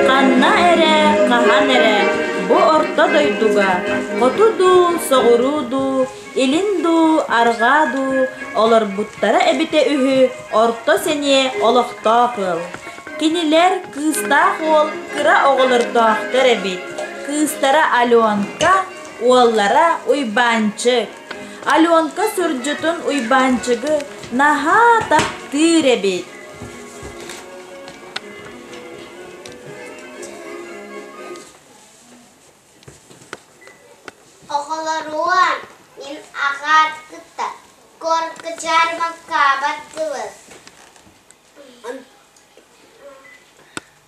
Ханна эрэ, хаһан эрэ бу орто дойдуга хоту дуу, соҕуруу дуу, илин дуу, арҕаа дуу олорбуттара эбитэ үһү орто сэниэ олохтоох ыал. Кинилэр кыыстаах уол кыра оҕолордоохтор эбит. Кыыстара Аленка, Уоллара Уйбаанчык, Аленка сырдьытын Уйбаанчыгы наһаа таптыыр эбит. Оҕолоруом, мин аҕаартыттан куоркачаар маккаабаттыбыт.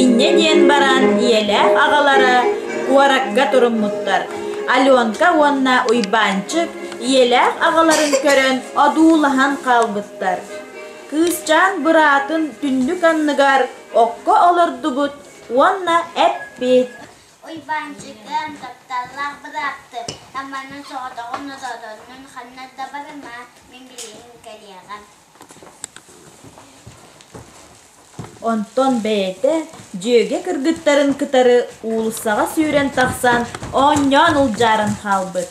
Инньэ диэн баран ийэлээх аҕалара куоракка туруммуттар. Аленка уонна Уйбаанчык ийэлээх аҕаларын көрөн одуулаһан хаалбыттар. Кыысчаан быраатын түннүк анныгар окко олордубут уонна эппит Уйбаанчыкым, тапталлаах бырааппын, Аманын соҕотоҕун-нотоотоннун ханна да барыма, мин билигин кэлиэҕим. Онтон бэйэтэ дьүөгэ кыргыттарын кытары уулуссаҕа сүүрэн тахсан оонньоон улдьааран хаалбыт.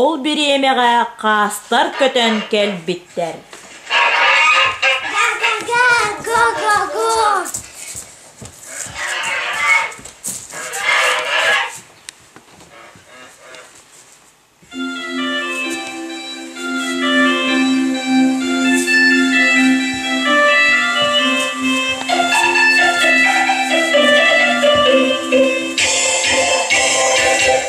Ол бириэмэҕэ хаастар көтөн кэлбиттэр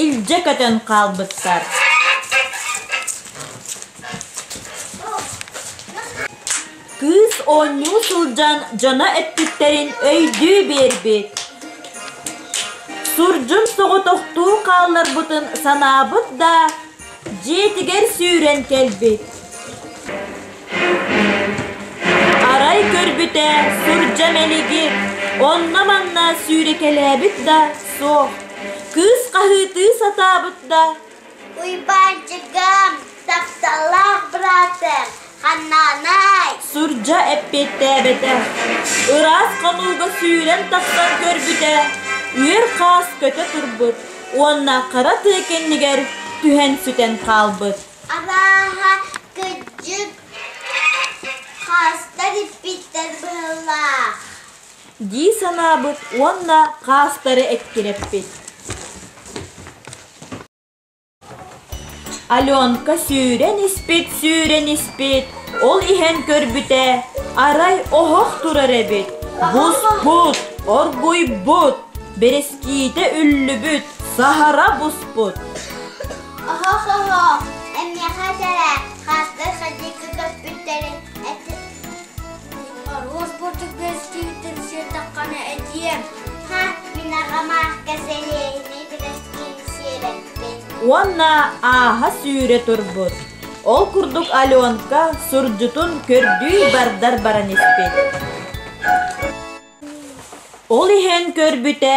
Илдьэ көтөн хаалбыттар Кыыс оонньуу сылдьан дьоно эппиттэрин өйдүү биэрбит Сурдьун соҕотохтуу хаалларбытын санаабыт да дьиэтигэр сүүрэн кэлбит арай көрбүтэ сурдьа мэлигир онно-манна сүүрэкэлээбит да суох кыыс хаһыытыы сатаабыт да уйбаанчыгым тахсалаах братым Сурдьа эппиэттээбэтэ. Ыраас хотууга сүүрэн тахсан көрбүтэ, үөр хаас көтө турбут уонна хара тыы кэннигэр түһэн сүтэн хаалбыт. Абааһа, кыдьык, хаастар иппиттэр быһылаах. дии санаабыт уонна хаастары эккирэппит. Аленка сүүрэн испит, сүүрэн испит, ол иһэн көрбүтэ, арай оһох турар эбит, буспут, оргуйбут, бэрэскиитэ үллүбүт, саһара буспут. Оруос бурдук көстүүтүн сырдаххына этиэм. Ха, мин аҕам аахка сэлиэһинэй бэлэскиин сиэбэппин. Уонна ааһа-сүүрэ турбут. Ол курдук Аленка сурдьутун көрдүү бардар баран испит. Ол иһэн көрбүтэ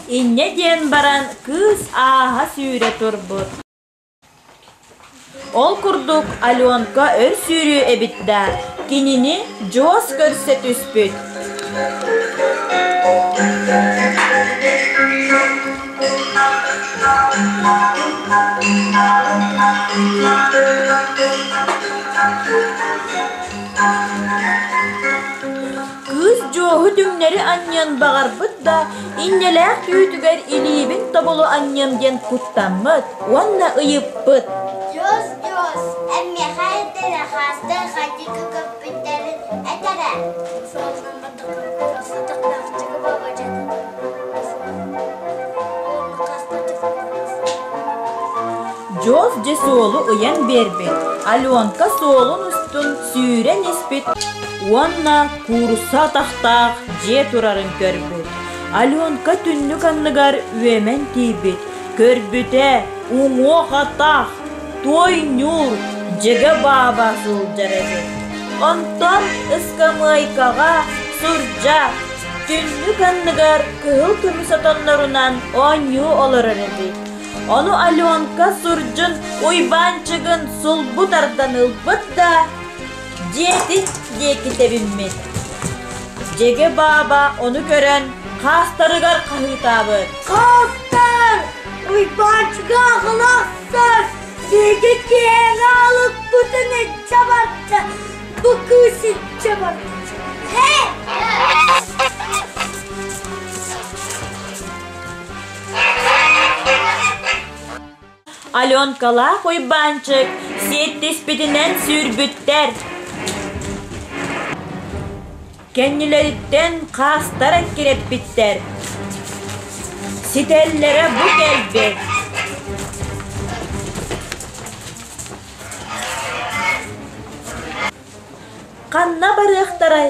Инньэ диэн баран кыыс ааһа сүүрэ турбут. Ол курдук Аленка өр сүүрүү эбит да, кинини дьуос көрсө түспүт. Кыыс дьуоһу түҥнэри анньыан баҕарбыт да, инньэлээх түүтүгэр илиибин тобулу анньыам диэн куттаммыт уонна ыйыппыт: «Дьуос, дьуос, эн миэхэ этэрэ хаастар хатыыка көппүттэрин этэрэ?» Дьуос дьэ суолу ыйан биэрбит, Аленка суолун устун сүүрэн испит уонна куурусса атахтаах дьиэ турарын көрбүт. Аленка түннүк анныгар үөмэн тиийбит, көрбүтэ уҥуох атах, туой ньуур, дьэгэ бааба сылдьар эбит. Онтон ыскамыайкаҕа сурдьах, түннүк анныгар кыһыл көмүс отоннорунан оонньуу олорор эбит. Ону Аленка сурдьун Уйбаанчыгын сулбу тардан ылбыт да, дьиэтин диэки тэбиммит. Дьэгэ бааба ону көрөн хаастарыгар хаһыытаабыт. Хаастар! Уйбаанчыга аҕыл ахсар! Дьэгэ кээмэ алыппытын эччэ барда! Бу кыыс иччэ барда! Һэ! Аленкалаах Уйбаанчык сиэттиспитинэн сүүрбүттэр. Кэннилэриттэн хаастар эккирэппиттэр. Ситэллэрэ бу кэлбит. Ханна барыахтарай?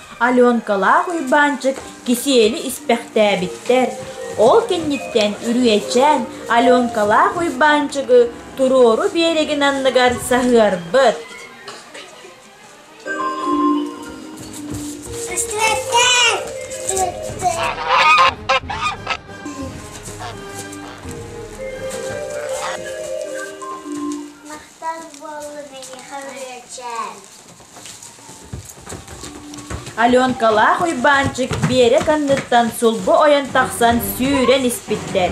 Аленкалаах Уйбаанчык кисиэли испэхтээбиттэр. Ол кэнниттэн Үрүөчээн Аленкалаах Уйбаанчыгы туруору биэрэгин анныгар саһыарбыт. Махтал буолла миэхэ Үрүөчээн. Аленкалаах Уйбаанчык Биэрик анныттан сулбу ойон тахсан сүүрэн испиттэр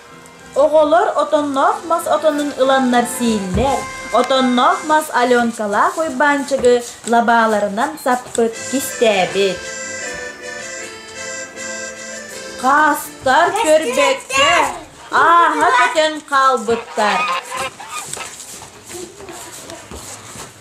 Оҕолор отонноох мас отонун ыланнар сииллэр. Отонноох мас Аленкалаах Уйбаанчыгы лабааларынан саппыт кистээбит. Хаастар көрбөккө ааһа көтөн хаалбыттар.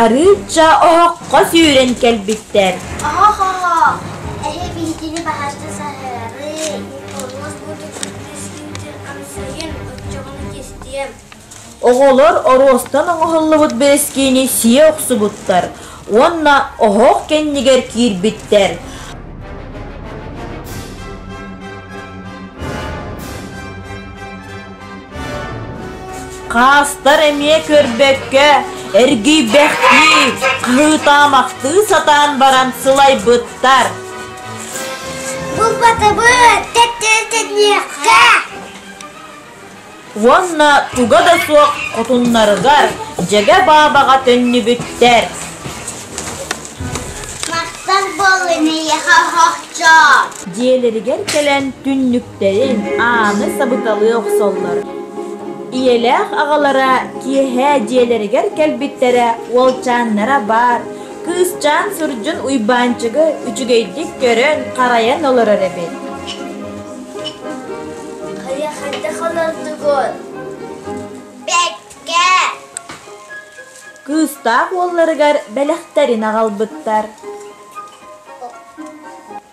Арыычча оһоххо сүүрэн кэлбиттэр. Оһо-хо-хо! Эһэ биһигини баһарда саһыарыы, Николоз бу дьүксүттүүскүүтүн амсайын, оччоҕуна кистиэм. Оҕолор оруостан оҥоһуллубут бэрэскиини сиэ охсубуттар уонна оһох кэннигэр киирбиттэр. Хаастар эмиэ көрбөккө эргийбэхтии кылытаамахтыы сатаан баран сылайбыттар. Булбатыбыт тэттэртэниэххэ уонна туга да суох хотуннарыгар дьэгэ баабаҕа төннүбүттэр. Махтал буолун ийэхэ оһохчоо! Дьиэлэригэр кэлэн түннүк Тэрин ааны сабыталыы охсоллор. Ийэлээх аҕалара киэһээ дьиэлэригэр кэлбиттэрэ уолчааннара баар кыысчаан сурдьун Уйбаанчыгы үчүгэйдик көрөн, харайан олорор эбит. Хайа хайдах олордугун? Бэккэ! Кыыстаах уолларыгар бэлэхтэрин аҕалбыттар.